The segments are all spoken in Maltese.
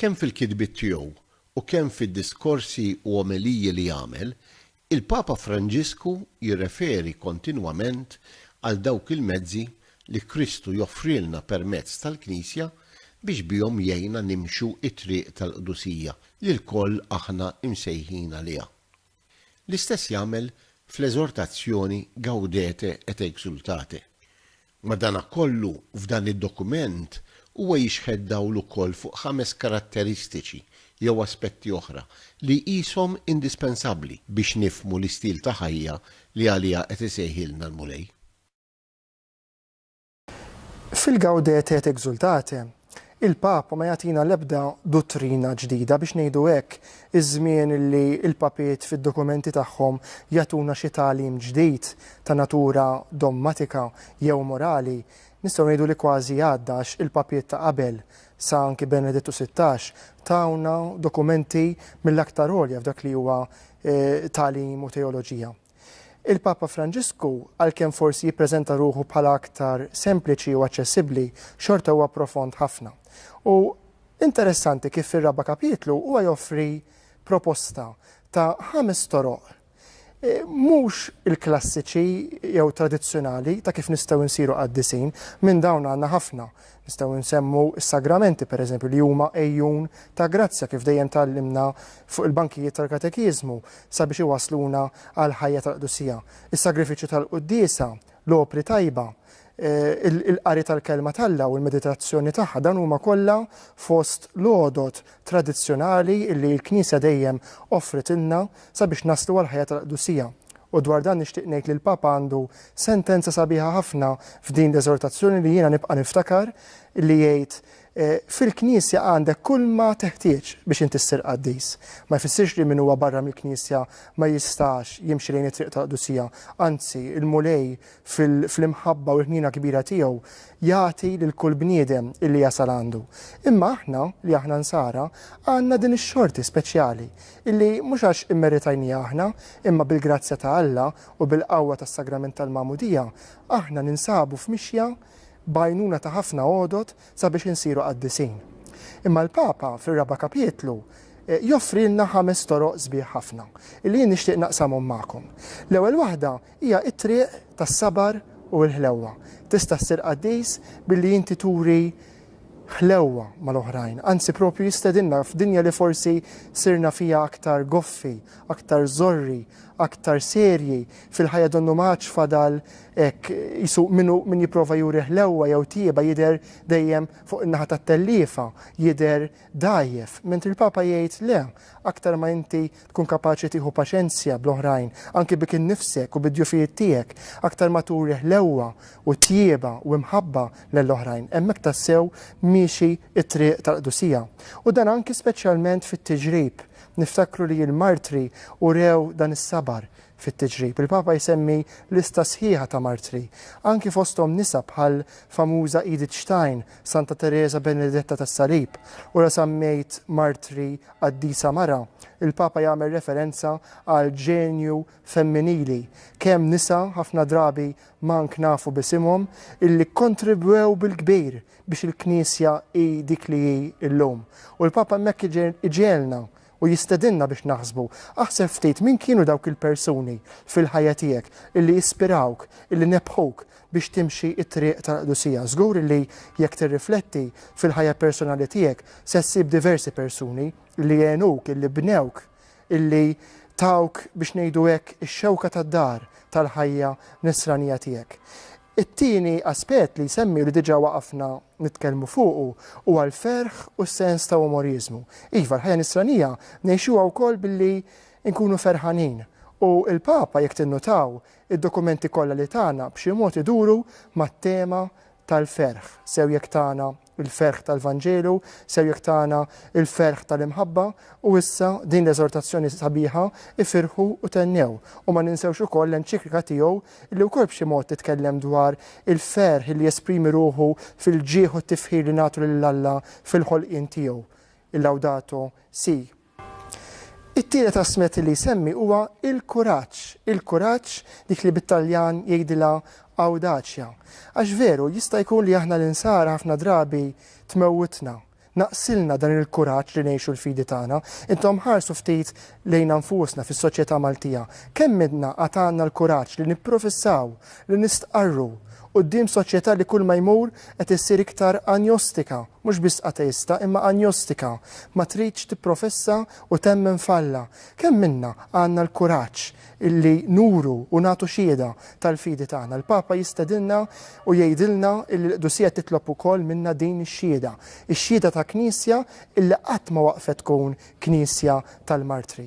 Kemm fil-kitbiet tiegħu u kemm fid-diskorsi u omeliji li jagħmel, il-Papa Franġisku jirreferi kontinwament għal dawk il-mezzi li Kristu joffrilna permezz tal-Knisja biex bihom jgħinna nimxu t-triq tal-qdusija li lkoll aħna msejħin għaliha. L-istess jagħmel fl-eżortazzjoni Gaudete et exultate. Madankollu, f'dan id-dokument huwa jixħet dawl ukoll fuq ħames karatteristiċi jew aspetti oħra li jqishom indispensabbli biex nifhmu l-istil ta' ħajja li għaliha qed isejħilna l-Mulej. Fil-Gaudete et Exsultate, il-Papa ma jagħtina l-ebda duttrina ġdida, biex ngħidu hekk, iż-żmien li l-Papiet fid-dokumenti tagħhom jagħtuna xi tagħlim ġdid ta' natura dommatika jew morali, nistgħu ngħidu li kważi għadda għax il-Papiet ta' qabel, sa anki Benedittu Sittax, tawna dokumenti mill-aktar għolja f'dak li huwa tagħlim u teoloġija. Il-Papa Franġisku, għalkemm forsi jippreżenta ruħu bħala aktar sempliċi u aċċessibbli, xorta huwa profond ħafna. U interessanti kif fir-raba' kapitlu huwa joffri proposta ta' ħames toroq mhux il-klassiċi jew tradizzjonali ta' kif nistgħu nsiru qaddisin, minn dawn għandna ħafna, Nistgħu nsemmu s-sagramenti, per eżempju, li huma għejun ta' grazzja, kif dejjem tgħallimna fuq il-bankijiet tal-katekiżmu, sabiex iwassluna għall-ħajja tal-qdusija. Is-sagrifiċċju tal-quddiesa, l-opri tajba, il-qari tal-Kelma t'Alla u l-meditazzjoni tagħha, dawn huma kollha fost l-għodod tradizzjonali li l-Knisja dejjem offritilna sabiex naslu għall-ħajja tal-qdusija. U dwar dan nixtieq ngħid li l-Papa għandu sentenza sabiħa ħafna f'din l-eżortazzjoni li jiena nibqa' niftakar li jgħid Fil-Knisja għandek kulma teħtieġ biex inti ssir qaddis. Ma jfissirx li min huwa barra mill-Knisja ma jistax jimxi lejn it-triq tal-qdusija. Anzi, il-Mulej fl-imħabba u l-ħniena kbira tiegħu, jagħti lil kull bniedem illi jasal għandu. Imma aħna, li aħna Nsara, għandna din ix-xorti speċjali, illi mhux għax immeritajniha aħna, imma bil-grazzja ta' Alla u bil-qawwa tas-Sagrament tal-Magħmudija, aħna ninsabu f'mixja b'għajnuna ta' ħafna għodod sabiex insiru qaddisin. Imma l-Papa, fir-raba' kapitlu, joffrilna ħames toroq sbieħ ħafna, illi jien nixtieq naqsamhom magħkom. L-ewwel waħda Hija t-triq tas-sabar u l-ħlewwa. Tista' ssir qaddis billi inti turi ħlewwa mal-oħrajn. Anzi proprju jistedinna f'dinja li forsi sirna fiha aktar goffi, aktar żorri, aktar serji, fil-ħajja donnu ma għadx fadal hekk qisu min hu min jipprova juri ħlewwa jew tjieba jidher dejjem fuq in-naħa tat-telliefa, jidher dgħajjef. Mentri l-Papa jgħid le, aktar ma inti Tkun kapaċi tieħu paċenzja bl-oħrajn, anki bik innifsek u bid-djufijiet tiegħek. Aktar ma turi ħlewwa u tjieba u imħabba lell oħrajn, hemmhekk tassew miexi t-triq tal-qdusija. U dan anki speċjalment fit-tiġrib. Niftakru li l-martri urew dan is-sabar fit-tiġrib. Il-Papa jsemmi lista sħiħa ta' martri, anki fosthom nisa bħall-famuża Edith Stein, Santa Teresa Benedetta tas-Salib, u la semmejt martri qaddisa mara, il-Papa jagħmel referenza għal ġenju femminili, kemm nisa, ħafna drabi mank nafu b'isimhom, illi kkontribwew bil-kbir biex il-Knisja hi dik li hi llum. U l-Papa hemmhekk iġegħelna U jistedinna biex naħsbu, aħseb ftit min kienu dawk il-persuni fil-ħajja tiegħek illi ispirawk, illi nebbħuk biex timxi t-triq tal-qdusija. Żgur illi jekk tirrifletti fil-ħajja personali tiegħek se ssib diversi persuni illi għenuk, illi bnewk, illi tawk biex ngħidu hekk ix-xewka tad-dar tal-ħajja nisranija tiegħek. It-tieni aspett li jsemmi u li diġà waqafna nitkellmu fuqu huwa l-ferħ u s-sens ta' umoriżmu. Iva, l-ħajja nisranija ngħixuha wkoll billi nkunu ferħanin. U l-Papa, jekk tinnutaw, id-dokumenti kollha li tana b'xi mod iduru mat-tema tal-ferħ, sew jekk tana Il-ferħ tal-Vanġelu ser jiktagħna l-ferħ tal-imħabba, u issa din l-eżortazzjoni sabiħa, Ifirħu u thennew. U ma ninsewx ukoll l-enċiklika tiegħu li wkoll b'xi mod titkellem dwar il-ferħ li jesprimi ruħu fil-ġieħ u t-tifħir li nagħtu lil Alla fil-ħolqien tiegħu, il-Laudato Si'. It-tielet asmet li jsemmi huwa il-kuraġġ. Il-kuraġġ, dik li bit-Taljan jgħidilha awdaċja. Għax veru, jista' jkun li aħna l-Insara ħafna drabi tmewwitna, naqsilna dan il-kuraġġ li ngħixu l-fidi tagħna. Intom ħarsu ftit lejna nfusna fis-soċjetà Maltija. Kemm minnha għad għandna l-kuraġġ li nipprofissaw, li nistqarru quddiem soċjetà li kull ma jmur qed issir iktar anjostika, Mhux biss ateista imma anjostika, ma tridx tipprofessa u temmen f'Alla. Kemm minna għandna l-kuraġġ illi nuru u nagħtu xiehda tal-fidi tagħna. Il-Papa jistedinna u jgħidilna illi l-Qdusija titlob ukoll minna din ix-xiehda, ix-xiehda ta' Knisja illi qatt ma waqfet tkun Knisja tal-martri.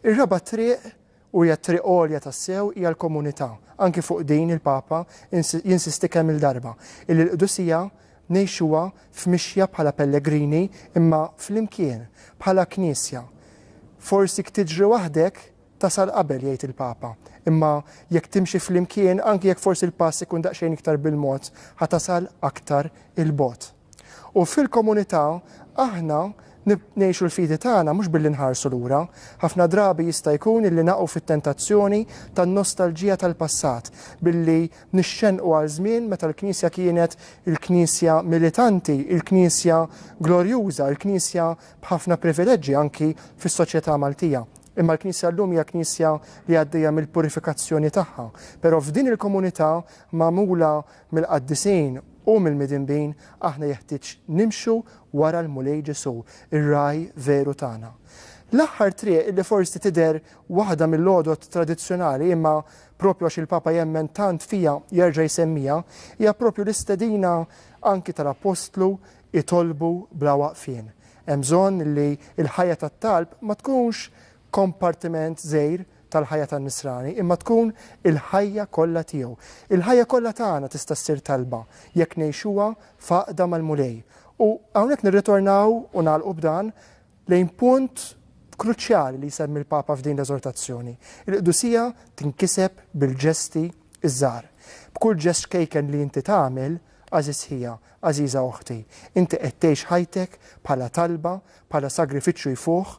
Ir-raba' triq u hija t-triq għolja tassew hija l-komunità. Anki fuq din il-Papa jinsisti kemm-il darba, illi l-qdusija ngħixuha f'mixja bħala pellegrini imma flimkien, bħala Knisja. Forsi jekk tiġri waħdek tasal qabel, jgħid il-Papa, imma jekk timxi flimkien, anki jekk forsi l-pass ikun daqsxejn iktar bil-mod, ħa tasal aktar 'il bogħod. U fil-komunità aħna ngħixu l-fidi tagħna mhux billi nħarsu lura. Ħafna drabi jista' jkun illi naqgħu fit-tentazzjoni tan-nostalġija tal-passat, billi nixxennqu għal żmien meta l-Knisja kienet il-Knisja militanti, il-Knisja glorjuża, il-Knisja b'ħafna privileġġi anki fis-soċjetà Maltija. Imma l-Knisja llum hija Knisja li għaddejja mill-purifikazzjoni tagħha. Però f'din il-komunità magħmula Mill-qaddisin u mill-midinbin aħna jeħtieġ nimxu wara l-Mulej Ġesù, ir-Ragħaj veru tagħna. L-aħħar triq li forsi tidher waħda mill-għodod tradizzjonali imma proprju għax il-Papa jemmen tant fiha jerġa' jsemmiha, hija proprju l-istedina anki tal-Appostlu itolbu bla waqfien. Hemm bżonn li l-ħajja tat-talb ma tkunx kompartiment żgħir tal-ħajja tan-Nisrani, imma tkun il-ħajja kollha tiegħu. Il-ħajja kollha tagħna tista' ssir talba jekk ngħixuha f'għaqda mal-Mulej. U hawnhekk nirritornaw, u nagħlqu b'dan, lejn punt kruċjali li jsemmi l-Papa f'din l-eżortazzjoni. Il-qdusija tinkiseb bil-ġesti ż-żgħar. B'kull ġest ċkejken li inti tagħmel, għażiż ħija, għażiża oħti, inti qed tgħix ħajtek bħala talba, bħala sagrifiċċju jfuħ